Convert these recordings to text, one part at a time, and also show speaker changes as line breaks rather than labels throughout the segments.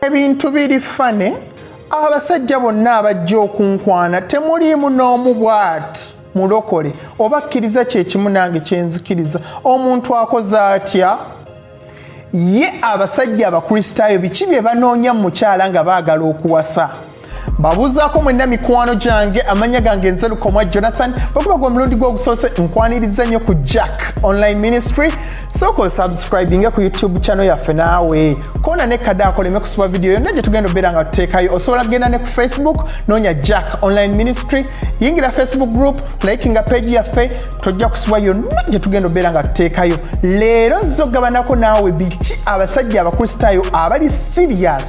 ebintu biri fane abasajja bonna abajja okunkwana temuliimu n'omu bwati mulokole oba kkiriza kyekimu nange kyenzikiriza omuntu akoze atya ye abasajja abakristaayo biki bye banoonya mu mukyala nga baagala okuwasa mbabuuzaako mwenna mikwano gyange amanya gange nze lukomwa jonathan bakuba gwe omulundi gwogusoose nkwaniriza nnyo ku jack online ministry sooka osubscribinge ku youtube channel yaffe naawe koona ne kada akoleme kusiba vidiyo yonna gye tugenda obeera nga tuteekayo osobola kugenda ne ku facebook noonya jack online ministry yingira facebook group likinga page yaffe tojja kusibwa yonna gye tugenda obeera nga tuteekayo leero nziza okugabanako naawe biki abasajja abakristaayo abali sirias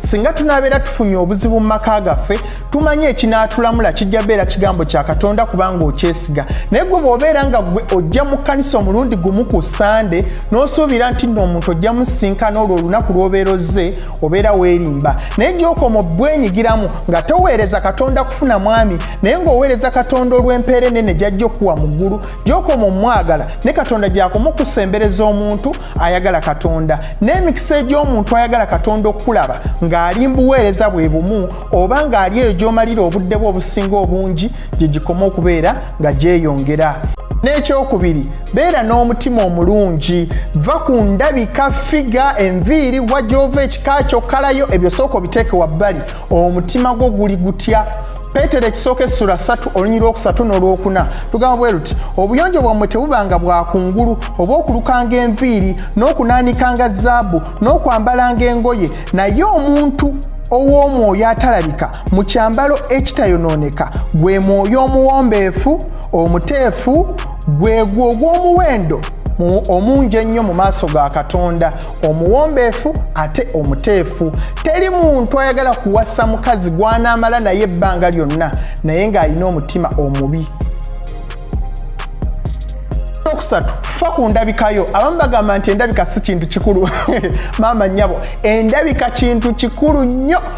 singa tunabeera tufunye obuzibu mu maka gaffe tumanyi ekinaatulamula kijja beera kigambo kya katonda kubanga okyesiga naye gwe bwobeera nga gwe ojja mu kkanisa omulundi gumu ku sande n'osuubira nti nno omuntu ojja musinkana olwo olunaku lw'obeera ozze obeera weerimba naye gyokoma obwenyigiramu nga toweereza katonda kufuna mwami naye ng'oweereza katonda olw'empeera enene gyajja okuwa mu ggulu gyokoma omwagala ne katonda gyakumukusembereza omuntu ayagala katonda n'emikisa egy'omuntu ayagala katonda okukulaba ng'ali mbuweereza bwe bumu oba ng'ali eyo gy'omalira obudde bwe obusinga obungi gye gikoma okubeera nga gyeyongera n'ekyokubiri beera n'omutima omulungi va ku ndabika figa enviiri wajova ekika kyo kalayo ebyo sooka obiteeke wabbali omutima gwo guli gutya peetero ekisooka essula satu olunyiri lwokusatu n'olwokuna lugamba bwe luti obuyonjo bwammwe tebubanga bwa kungulu oba okulukanga enviiri n'okunaanikanga zaabu n'okwambalanga engoye naye omuntu ow'omwoyo atalabika mu kyambalo ekitayonooneka gwe mwoyo omuwombeefu omuteefu gwegwo ogw'omuwendo omungi ennyo mu maaso ga katonda omuwombeefu ate omuteefu teri muntu ayagala kuwasa mukazi gwanaamala naye ebbanga lyonna naye ng'alina omutima omubi okusatu fa ku ndabikayo abamu bagamba nti endabika si kintu kikulu maama nyabo endabika kintu kikulu nnyo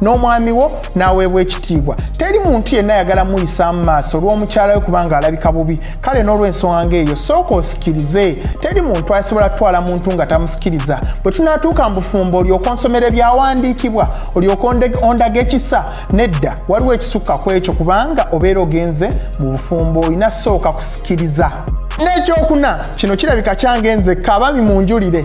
n'omwami wo n'aweebwa ekitiibwa teri muntu yenna ayagala muyisa mu maaso olw'omukyala we kubanga alabika bubi kale n'olw'ensonga ng'eyo sooka osikirize teri muntu asobola kutwala muntu nga tamusikiriza bwe tunaatuuka mu bufumbo olyoka onsomera ebyawandiikibwa olyoka ondaga ekisa nedda waliwo ekisukka ku ekyo kubanga obeera ogenze mu bufumbo olina sooka kusikiriza n'ekyokuna kino kirabika kyange nzekka abaami munjulire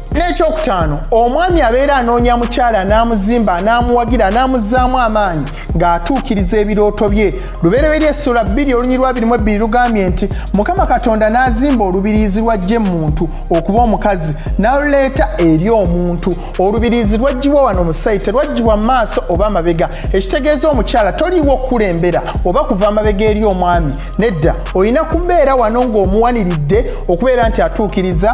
n'ekyokutaano omwami abeera anoonya mukyala n'amuzimba anaamuwagira anaamuzzaamu amaanyi ng'atuukiriza ebirooto bye lubereberye essula bbiri olunyiri lwa birimu ebbiri lugambye nti mukama katonda n'azimba olubiriizi lwajja emuntu okuba omukazi n'aluleeta eri omuntu olubiriizi lwaggyibwa wano mu sayi terwaggyibwa mu maaso oba amabega ekitegeeza omukyala toliiwo okukulembera oba kuva amabega eri omwami nedda olina kubeera wano ng'omuwaniridde okubeera nti atuukiriza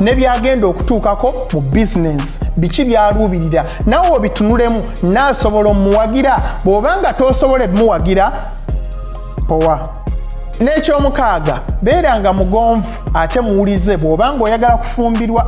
ne byagenda okutuukako mu bizinensi biki byaluubirira nawe obitunulemu naasobola omuwagira bw'oba nga tosobola ebimuwagira powa n'ekyomukaaga beera nga mugonvu ate muwulize bw'oba ng'oyagala kufumbirwa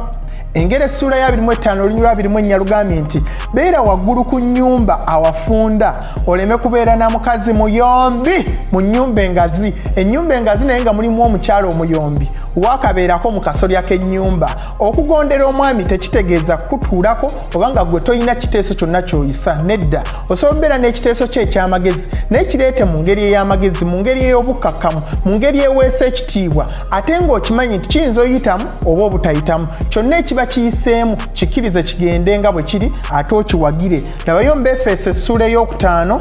engeri essuula ya 25 olunyulwa 2 ennya lugambye nti beera waggulu ku nnyumba awafunda oleme kubeera na mukazi muyombi mu nnyumba engazi ennyumba engazi naye nga mulimu omukyalo omuyombi waakabeerako mu kasolya k'ennyumba okugondera omwami tekitegeeza kukutuulako oba nga gwe tolina kiteeso kyonna kyoyisa nedda osobola okubeera n'ekiteeso kyo eky'amagezi naye kireete mu ngeri ey'amagezi mu ngeri ey'obukkakkamu mu ngeri eweesa ekitiibwa ate ng'okimanyi nti kiyinza oyitamu oba obutayitamu kyonna ekiba kiyiseemu kikkirize kigende nga bwe kiri ate okiwagire labayo mu befeeso essuula ey'okutaano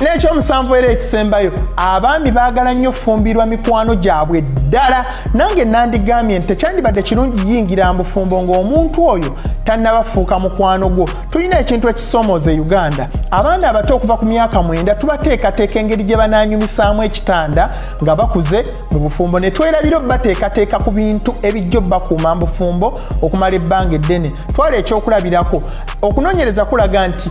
n'ekyomusanvu era ekisembayo abaami baagala nnyo fumbirwa mikwano gyabwe ddala nange nandigambye nti tekyandibadde kirungi yingira mbufumbo ng'omuntu oyo tannabafuuka mukwano gwo tulina ekintu ekisomooza e uganda abaana abato okuva ku myaka mwenda tubateekateeka engeri gye banaanyumisaamu ekitanda nga bakuze mu bufumbo ne twerabira obubateekateeka ku bintu ebijja obubakuuma mbufumbo okumala ebbanga eddene twala ekyokulabirako okunoonyereza kulaga nti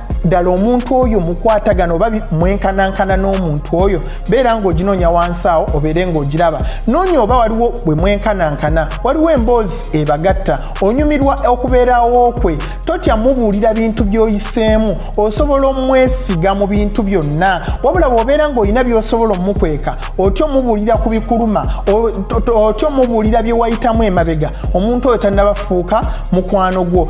ddala omuntu oyo mukwatagana oba mwenkanankana n'omuntu oyo beera ng'oginoonya wansi awo obeere ng'ogiraba noonya oba waliwo bwe mwenkanankana waliwo emboozi ebagatta onyumirwa okubeerawo kwe totya mubuulira bintu by'oyiseemu osobola omwesiga mu bintu byonna wabula bw'obeera ng'olina by'osobola omukweka otya omubuulira ku bikuluma otya omubuulira bye wayitamu emabega omuntu oyo tannabafuuka mukwano gwo